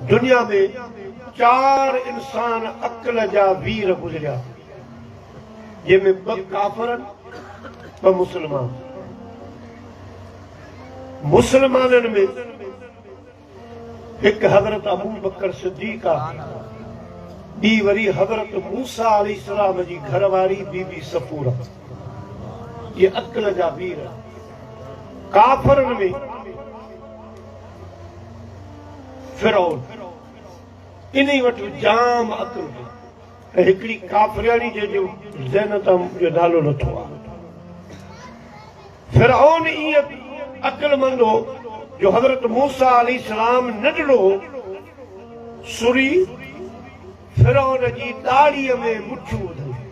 دنيا ۾ چار انسان عقل جا وير گذريا جنهن ۾ ٻه ڪافر ٻه مسلمان مسلمانن ۾ هڪ حضرت ابو بکر صديق آهي ٻي وري حضرت موسا علي اسلام جي گهر واري بي بي سفور جي عقل جا وير ڪافرن ۾ فرعون انهي وٽ جام عقل هئي ۽ هڪڙي ڪافرياڻي جنهن جو زينت هم جو نالو نه ٿو آهي فرعون ائين عقلمند هو جو حضرت موسيٰ عليه السلام ننڍڙو هو سوري فرعون جي ڏاڙهيء ۾ مٺيون ٻڌل هيون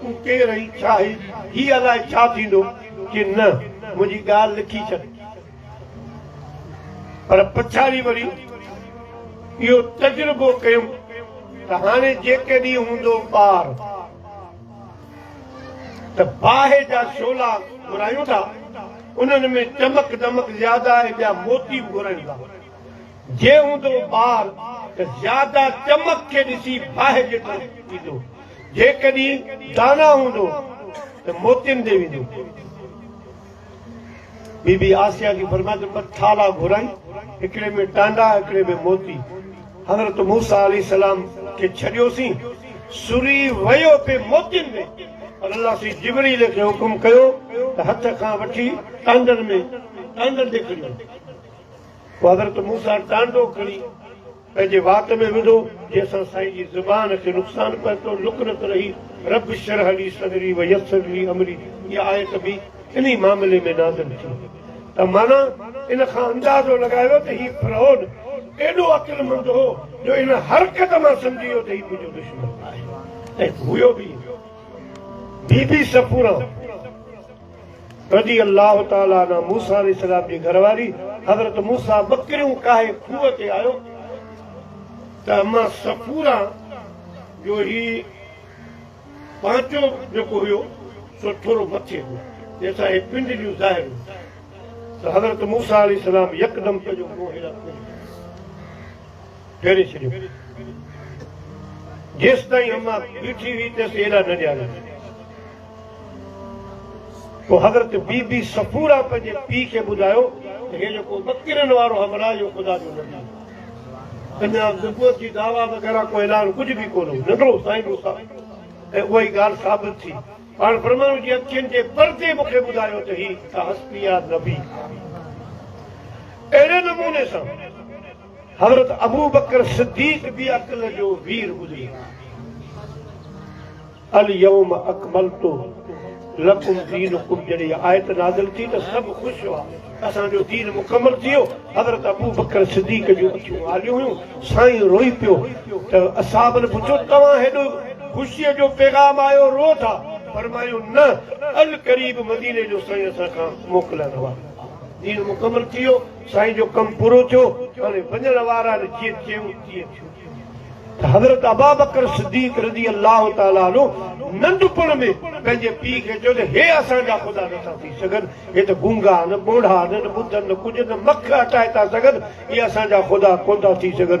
تون ڪير آهين، ڇا آهين، هي الاء ڇا ٿيندو، چي نه منهنجي ڳالهه لکي ڇڏ. پر پڇاڙي وري اهو تجربو ڪيم ته هاڻي جيڪڏهن هوندو ٻار ته باهه جا شعلا گهرايون ٿا، انهن ۾ چمڪ دمڪ زياده آهي، ٻيا موتي به گهرايون ٿا. جي هوندو ٻار ته زياده چمڪ کي ڏسي باهه جيترو ٿيندو، جيڪڏهن دانا هوندو ته موتين ڏي ويندو. بي بي آسيا جي فرمائش تي ٻه ٿالها گهرائين، هڪڙي ۾ ٽانڊا، هڪڙي ۾ موتي. حضرت موسيٰ عليه السلام کي ڇڏيوسين، سري ويو پي موتين ۾، پر الله سين جبريل کي حڪم ڪيو ته هٿ کان وٺي ٽانڊن ۾ ٽانڊن ڏيکڙيو. پوء حضرت موسيٰ ٽانڊو کڻي پنهنجي وات ۾ وڌو، جنهن سان سائين جي زبان کي نقصان پهتو، لڪنت رهي، رب اشرح لي صدري ويسر لي امري، اها آيت به انهي معاملي ۾ نازل ٿي ته معنيٰ ان کان اندازو لڳايو ته هي فرعون ايڏو عقلمند هو جو ان حرڪت مان سمجهي ويو ته هي منهنجو دشمن آهي ۽ هيو به بي بي صفورا. رضي الله تعالٰي عنه موسيٰ عليه السلام جي گهر واري حضرت موسيٰ ٻڪريون ڪاهي کوهه تي آيو ته اما صفورا جو هي پانچو جيڪو هيو سو ٿورو مٿي هو جنهن سان هي پنڊليون ظاهر هيون ته حضرت موسيٰ عليه السلام يڪدم پنهنجو منهن هيڏانهن ڦري ڦيري ڇڏيو. جيستائين اما بيٺي هئي تيس ايڏا نه ڏياريو. پوء حضرت بي بي صفوره پنهنجي پيء کي ٻڌايو ته هي جيڪو ٻڪرين وارو همراهه اهو خدا جو نبي آهي. اڃا نبوت جي دعويٰ وغيره ڪو اعلان ڪجهه به ڪونه هو. ننڍڙو سائين موسيٰ ۽ اها ئي ڳالهه ثابت ٿي. پاڻ برهمانو جي اکين جي پردي مون کي ٻڌايو ته هي ته حسبيا نبي آهي. اهڙي نموني سان. حضرت ابوبڪر صديق به عقل جو وير گذري ويو آهي. اليوم اڪملت لڪم دينڪم جڏهن اها آيت نازل ٿي ته سڀ خوش هئا اسان جو دين مڪمل ٿي ويو حضرت ابوبڪر صديق جون اکيون آليون هيون سائين روئي پيو ته اصحابن پڇيو توهان هيڏو خوشي جو پيغام آيو رو ٿا فرمايو نه القريب مديني جو سائين اسان کان موڪلائڻ وارو آهي دين مڪمل ٿي ويو سائين جو ڪم پورو ٿيو هاڻي وڃڻ وارن جيئن چيو تيئن ٿيو ته حضرت ابابڪر صديق رضي الله تعالٰي عنه ننڍپڻ ۾ پنهنجي پيء کي چيو ته هي اسان جا خدا نٿا ٿي سگهن هي ته گونگا آهن ٻوڙا آهن نه ٻڌن نه ڪجهه نه مک هٽائي ٿا سگهن اهي اسان جا خدا ڪونه ٿا ٿي سگهن.